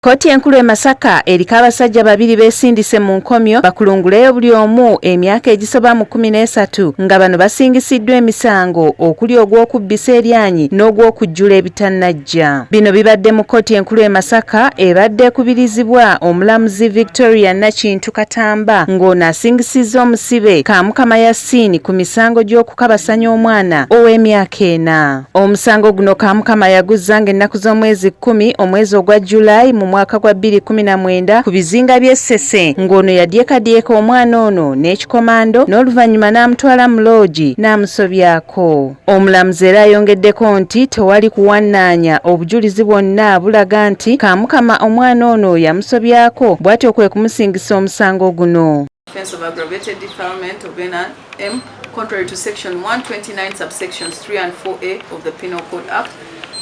Kkooti enkulu e Masaka eriko abasajja babiri beesindise mu nkomyo bakulunguleyo buli omu emyaka egisoba mu kkumi n'esatu nga bano basingisiddwa emisango okuli ogw'okubbisa eryanyi n'ogw'okujjula ebitannajja. Bino bibadde mu kkooti enkulu e Masaka ebadde ekubirizibwa omulamuzi Victoria Nakintu Katamba ng'ono asingisizza omusibe Kamukama Yasin ku misango gy'okukabasanya omwana ow'emyaka ena. Omusango guno Kamukama yaguzza ng'ennaku z'omwezi kkumi omwezi ogwa July mu mwaka gwa 2019 ku bizinga by'e Ssese ng'ono yadyekadyeka omwana ono n'ekikomando n'oluvannyuma n'amutwala mu loogi n'amusobyako. Omulamuzi era ayongeddeko nti tewali kuwannaanya obujulizi bwonna bulaga nti Kamukama omwana ono yamusobyako bw'atyo kwe kumusingisa omusango guno. Offense of aggravated defilement of NRM contrary to section 129 subsections 3 and 4A of the Penal Code Act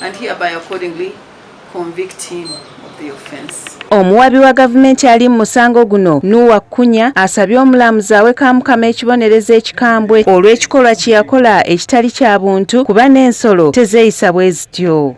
and hereby accordingly convict him of the offense. Omuwabi wa gavumenti ali mu musango guno Nuwa Kunya asabye omulamuzi awe Kamukama ekibonerezo ekikambwe olw'ekikolwa kye yakola ekitali kya buntu kuba n'ensolo tezeeyisa bwe zityo.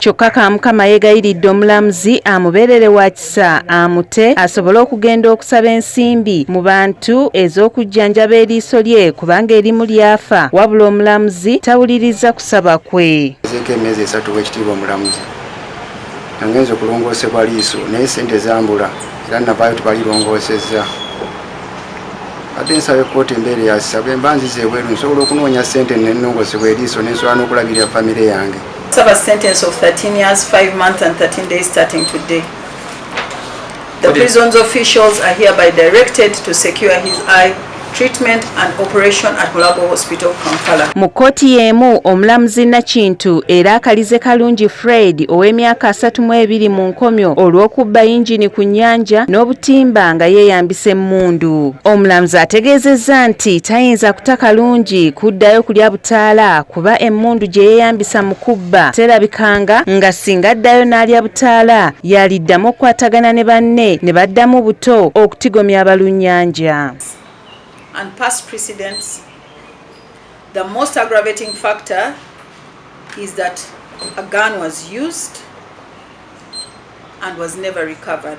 Kyokka Kamukama yeegayiridde omulamuzi amubeerere wa kisa amute asobole okugenda okusaba ensimbi mu bantu ez'okujjanjaba eriiso lye kubanga erimu lyafa wabula omulamuzi tawuliriza kusaba kwe. Ezeeko emyezi esatu w'ekitiibwa omulamuzi nangenza okulongoosebwa liiso naye sente zambula era navaayo tebalirongoosezza ate nsaba ekkooti embeere yasisa bwe mba nzize ebweru nsobola okunoonya sente nenongoosebwa eriiso nensobola n'okulabirira famire yange. serve a sentence of 13 years, 5 months and 13 days starting today. The okay. prison's officials are hereby directed to secure his eye treatment and operation at Mulago Hospital Kampala. Mu kkooti y'emu omulamuzi Nakintu era akalize Kalungi Fred ow'emyaka asatu mu ebiri mu nkomyo olw'okubba yingini ku nnyanja n'obutimba nga yeeyambisa emmundu. Omulamuzi ategeezezza nti tayinza kuta Kalungi kuddayo kulya butimba Taala kuba emmundu gye yeeyambisa mu kubba terabikanga nga singa addayo n'alya butaala yaaliddamu okukwatagana ne banne ne baddamu buto okutigomya abalunnyanja. and past precedents, the most aggravating factor is that a gun was used and was never recovered.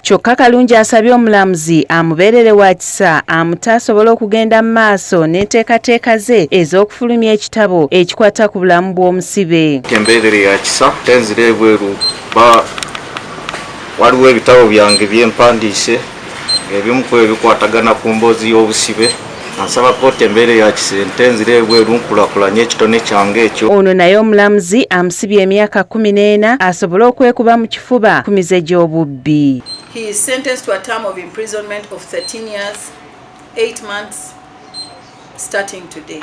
Kyokka Kalungi asabye omulamuzi amubeerere wa kisa amute asobole okugenda mu maaso n'enteekateeka ze ez'okufulumya ekitabo ekikwata ku bulamu bw'omusibe. Tembeerere ya kisa tenzira ebweru ba waliwo ebitabo byange bye mpandiise ebimu ku ebikwatagana ku mboozi y'obusibe. Ansaba kkooti embeera eya kisente nzire ebweru nkulakulanye ekitone kyange ekyo. Ono naye omulamuzi amusibye emyaka kkumi n'ena asobole okwekuba mu kifuba ku mize gy'obubbi. He is sentenced to a term of imprisonment of 13 years, 8 months starting today.